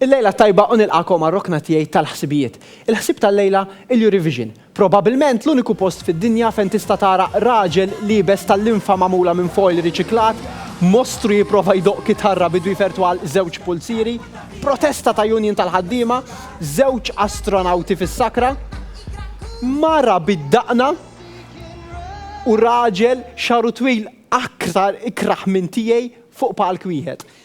Il-lejla t-tajba u nilqagħkom għar-rokna tiegħi tal-ħsibijiet. Il-ħsieb tal-lejla, il-Eurovision. Probabbilment l-uniku post fid-dinja fejn tista' tara raġel liebes ta' linfa magħmula minn foil riċiklat, mostru jipprova jdoqq kitarra bidu jfertwal żewġ pulzieri, protesta ta' union tal-ħaddiema, żewġ astronawti fis-sakra, mara bid-daqna u raġel xagħru twil aktar ikrah minn tiegħi fuq palk wieħed.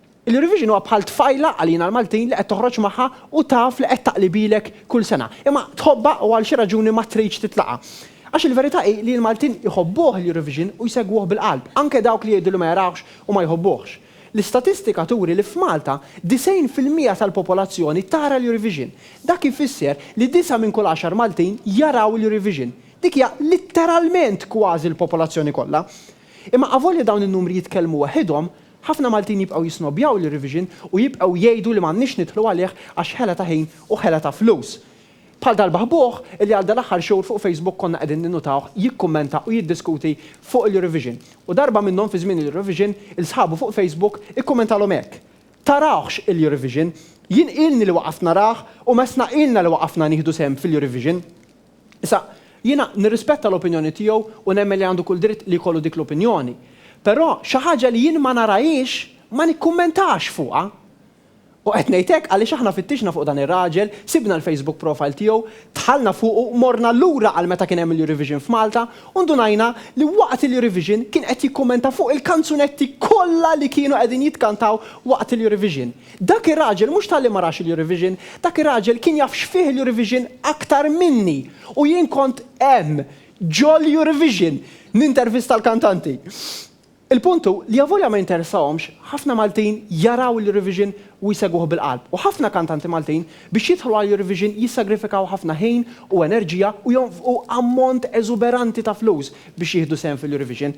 Il-Eurovision huwa bħal tfajla għalina l-Maltin li qed toħroġ magħha u taf li qed taqlibilek kull sena. Imma tħobbha u għal xi raġuni ma tridx titlaqha. Għax il-verità hi li l-Maltin jħobbuh l-Eurovision u jsegwuh bil-qalb, anke dawk li jgħidu li ma jarawhx u ma jħobbuhx. L-istatistika turi li f'Malta 90 fil-mija tal-popolazzjoni tara l-Eurovision. Dak ifisser li disgħa minn kull għaxar Maltin jaraw l-Eurovision. Dik hija litteralment kważi l-popolazzjoni kollha. Imma avolja dawn in-numri jitkellmu waħidhom, Ħafna Maltin jibqgħu jisnobbjaw lir-revision u jibqgħu jgħidu li m'għandniex nidħlu għalih għax ħela ta' ħin u ħela ta' flus. Bħal dal-baħbuħ li għal dal-aħħar xhur fuq Facebook konna qegħdin ninnutawh jikkummenta u jiddiskuti fuq il-Eurovision. U darba minnhom fi żmien il-Eurovision, 'il sħabu fuq Facebook ikkummentalhom hekk, Tarawhx il-Eurovision! Jien ilni li waqaft narah u Messna ilna li waqafna nieħdu sehem fil-Eurovision! Issa, jiena nirrispetta l-opinjoni tiegħu u nemmen li għandu kull dritt li jkollu dik l-opinjoni. Però, xi ħaġa li jien ma narahiex, ma nikkummentax fuqha. U qed ngħid hekk għaliex aħna fittixna fuq dan ir-raġel, sibna l-Facebook profile tiegħu, dħalna fuqu, morna lura għal meta kien hemm il-Eurovision f'Malta u ndunajna li waqt il-Eurovision kien qed jikkummenta fuq il-kanzunetti kollha li kienu qegħdin jitkantaw waqt il-Eurovision. Dak ir-raġel mhux talli ma rax il-Eurovision, dak ir-raġel kien jaf x'fih il-Eurovision aktar minni u jien kont hemm, ġol-Eurovision, nintervista l-kantanti. Il-punt hu li avolja ma jinteressahomx, ħafna Maltin jaraw l-Eurovision u jsegwuh bil-qalb u ħafna kantanti Maltin biex jidħlu għall-Eurovision jissagrifikaw ħafna ħin u enerġija u jonfqu ammont eżuberanti ta' flus biex jieħdu sehem fil-Eurovision.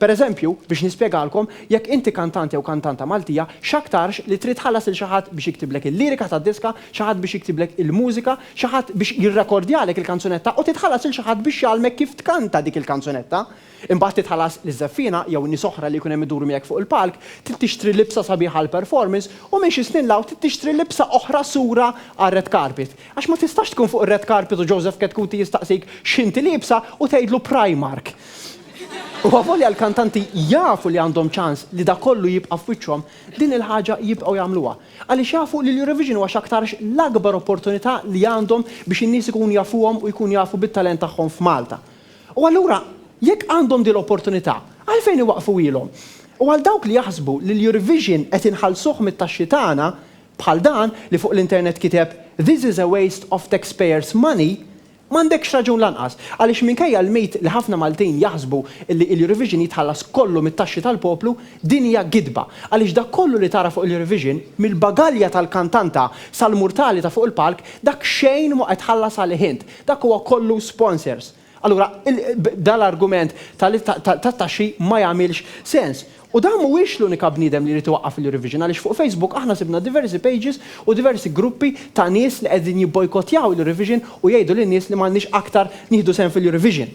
Per eżempju, biex nispjegalkom, jekk inti kantant jew kantanta Maltija, x'aktarx li trid tħallas lil xi ħadd biex jiktiblek il-lirika tad-diska, xi ħadd biex jiktiblek il-mużika, xi ħadd biex jirrekordjalek il-kanzunetta u titħallas lil xi ħadd biex jgħallmek kif tkanta dik il-kanzunetta. Imbagħad titħallas liż-żeffiena jew nies oħra li jkun hemm iduru miegħek fuq il-palk, trid tixtri libsa sabiħa għall-performance u minn xi snin 'l hawn trid tixtri libsa oħra sura għar-red carpet. Għax ma tistax tkun fuq ir-red carpet u Joseph Chetcuti jistaqsik x'inti liebsa u tgħidlu Primark. U avolja l-kantanti jafu li għandhom ċans li dak kollu jibqa' f'wiċċhom, din il-ħaġa jibqgħu jagħmluha. Għaliex jafu li l-Eurovision huwa x'aktarx l-akbar opportunità li għandhom biex in-nies ikunu jafuhom u jkunu jafu bit-talent tagħhom f'Malta. U allura, jekk għandhom din l-opportunità, għalfejn iwaqqfuhielhom? U għal dawk li jaħsbu li l-Eurovision qed inħallsuh mit-taxxi tagħna, bħal dan li fuq l-internet kiteb This is a waste of taxpayers' money, M'għandekx raġun lanqas, għaliex minkejja l-mit li ħafna Maltin jaħsbu li l-Eurovision jitħallas kollu mit-taxxi tal-poplu, din hija gidba, għaliex dak kollu li tara fuq l-Eurovision, mill-bagalja tal-kantanta sal-murtali ta' fuq il-palk, dak xejn mhu qed tħallas għalih int, dak huwa kollu sponsors. Allura, dan l-argument ta' li ta' t-taxxi ma jagħmilx sens. U dan mhuwiex l-unika bniedem li jrid iwaqqaf il-Eurovision għaliex fuq Facebook aħna sibna diversi pages u diversi gruppi ta' nies li qegħdin jibbojkottjaw il-Eurovision u jgħidu lin-nies li m'għandniex aktar nieħdu sehem fil-Eurovision.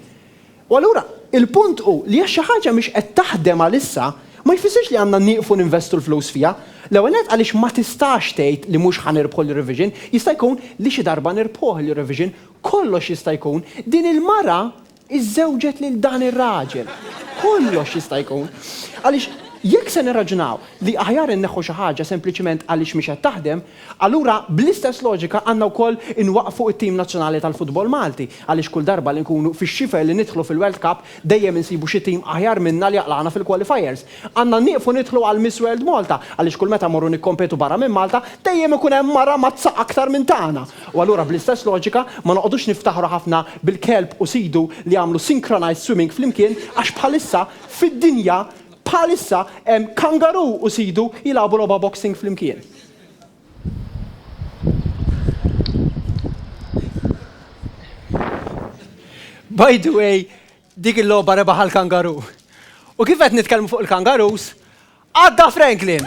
U allura, il-punt hu li jekk xi ħaġa mhix qed taħdem għalissa, ma jfissirx li għandna nieqfu ninvestu l-flus fiha. L-ewwel nett għaliex ma tistax tgħid li mhux ħa nirbħu l-Eurovision, jista' jkun li xi darba nirbħuh l-Eurovision, kollox jista' jkun. Din il-mara, iżżewġet lil dan ir-raġel. Kollox jista' jkun. Għaliex, jekk se nirraġunaw li aħjar inneħħu xi ħaġa sempliċement għaliex mhix qed taħdem, allura bl-istess loġika għandna wkoll inwaqqfu t-tim nazzjonali tal-futbol Malti, għaliex kull darba li nkunu fix-xifer li nidħlu fil-World Cup dejjem insibu xi tim aħjar minna li jaqlagħna fil-qualifiers. Għandna nieqfu nidħlu għal Miss World Malta għaliex kull meta mmorru nikkompetu barra minn Malta dejjem ikun hemm mara mazza aktar minn tagħna. U allura bl-istess loġika ma noqogħdux niftaħru ħafna bil-kelb u sidu li għamlu synchronized swimming flimkien għax bħalissa fid-dinja bħalissa hemm kangaroo u sidu jilagħbu logħba boxing flimkien. By the way, Dik il-logħba rebaħha l-kangaru. U kif qed nitkellmu fuq il-kangarus, għadda Franklin!